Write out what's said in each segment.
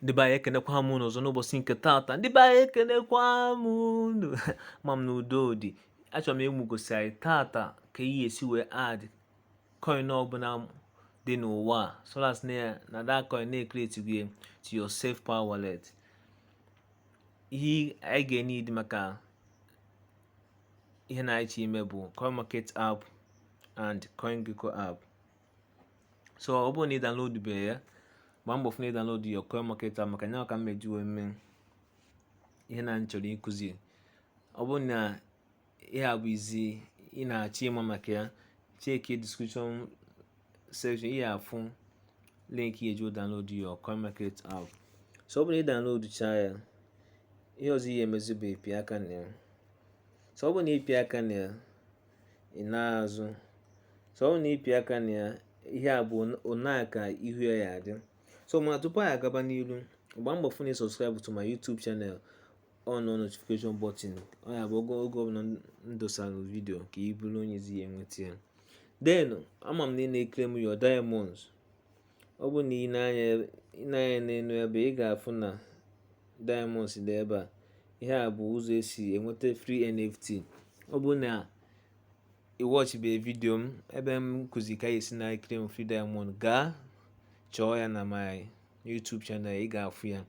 ndị be anyị ekenekwa m unu ọzọ n'ụbọchị nke taata ndị be anyị ekenekwa m unu ama m na udo dị achọrọ m imegosi anyị taata ka ị ya-esi wee add coin ọbụla dị n'ụwa so long as na ya na that coin na e create-go ya to your SafePal wallet ihe anyị ga-eneed maka ihe a na-achọ ime bụ coin market app and CoinGecko app so ọ bụrụ na ị download be ya gbaa mbọ fụ na ị download your coin market app maka na ya ka m meji wee mee ihe na m chọrọ ịkụzi ọ bụrụ na ihe a bụ izi ị na-achọ ịma maka ya check description section ị ya-afụ link ị ya-eji download your coin market app so ọ bụrụ na ị download chaa ya ihe ọzọ ị ya-emezi bụ ịpị aka na ya so ọ bụrụ na ị pịa aka na ya ị na-azụ so ọ bụ na ị pịa aka na ya ihe a bụ onaa ka ihu ya ya-adị so mana tupu anyị agaba n'ilu gbaa mbọ fụ na ị subscribe to my YouTube channel on notification button ọ ya-abụ oge oge ọbụla m dosara video ka ị bụrụ onye izi ya-enweta ya then ama m na ị na-eclaim your diamonds Ọ bụrụ na i nee anya ebe i nee anya n'elu ebe ị ga-afụ na diamonds dị ebe a ihe a bụ ụzọ esi enweta free NFT ọ bụrụ na ị watch be video m ebe m kụzi ka esi na-claim free diamond gaa chọọ ya na my YouTube channel ị ga-afụ ya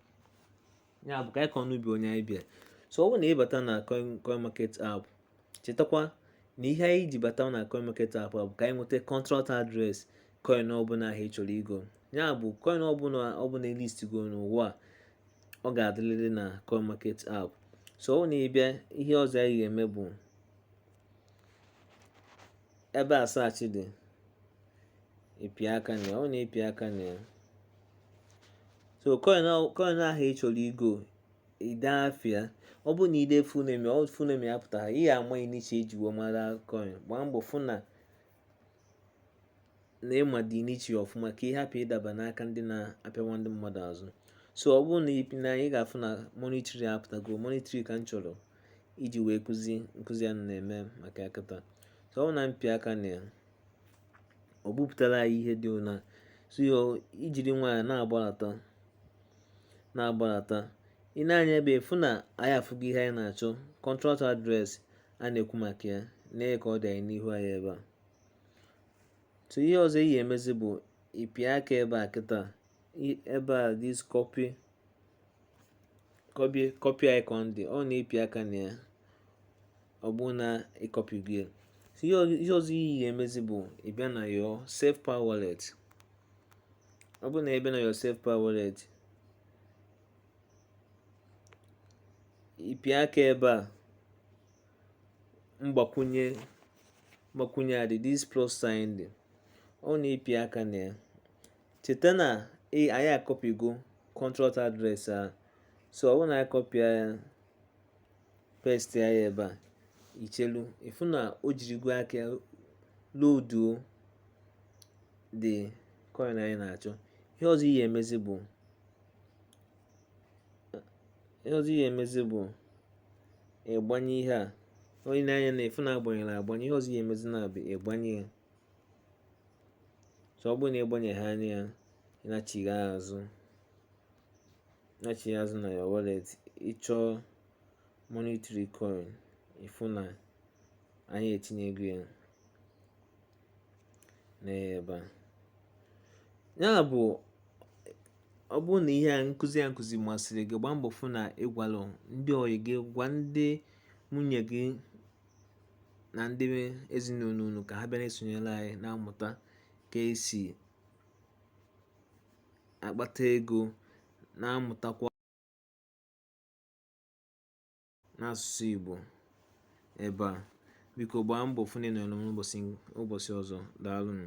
ya bụ ka anyị kọọ n'ubi onye anyị bịa so ọ bụrụ na ị bata na coin coin market app chetakwa na ihe anyị ji bata na coin market app bụ ka anyị nweta contract address coin ọbụla ahụ ị chọrọ igo ya bụ coin ọbụla ọbụla list go n'ụwa ọ ga-adịrịrị na coin market app so ọ bụ na ị bịa ihe ọzọ anyị ga-eme bụ ebe a search dị ị pịa aka na ya ọ bụ na ị pịa aka na ya so coin coin ahụ ị chọrọ igo i dee afa ya ọ bụrụ na i dee full name ọ full name ya apụtara ị ya-ama initial e ji wee mara coin gbaa mbọ fụ na na ị ma the initial ọfụma ka ị hapụ ịdaba n'aka ndị na-apịawa ndị mmadụ azụ so ọ bụrụ na i nee anya ị ga-afụ na Monetary apụtago Monetary ka m chọrọ iji wee kụzi nkụzi a na-eme maka ya kịta so ọ bụ na m pịa aka na ya o bupụtara anyị ihe dị ụna so i jiri nwayọ na-agbalata na-agbalata i nee anya ebe a ị fụ na anyị afụgo ihe anyị na-achọ contract address a na-ekwu maka ya nee ka ọ dị anyị n'ihu anyị ebe a so ihe ọzọ ị ya-emezi bụ ịpịa aka ebe a kịta ebe a this copy copy icon dị ọ na ịpịa aka na ya ọ bụrụ na ịkọpịgo ihe ọzọ ị ya-emezi bụ ịbịa na your SafePal wallet ọ bụrụ na ịbịa na your SafePal wallet ịpịa aka ebe a mgbakwunye mgbakwunye a dị this plus sign dị ọ na ịpịa aka na ya cheta na e, anyị akọpigo contract address ahụ so ọ bụrụ na anyị kọpịa ya paste ya ebe a ichelu ịfụ na o jirigo aka loduo the coin anyị na-achọ ihe ọzọ ị ya-emezi bụ ihe ọzọ ị ya-emezi bụ ịgbanye ihe a on ị nee anya ịfụ na agbanyerọ agbanye ihe ọzọ ị ya-emezi na-abụ ịgbanye ya so ọ bụrụ na ịgbanye ihe a on ya ịnachigha azụ nachigha azụ na your wallet ịchọọ monetary coin ịfụ na anyị etinyego ya n'ebe a ya bụ ọ bụrụ na ihe nkụzi a nkụzi masịrị gị gbaa mbọ fụ na ịgwalụ ndị ọyị gị gwa ndị ụmụnne gị na ndị ezinụlọ unu ka ha bịa na-esonyere anyị na-amụta ka esi akpata ego na-amụtakwa n'asụsụ Igbo ebe a biko gbaa mbọ fụ na ị nọrọ n'ụbọchị ọzọ daalụnụ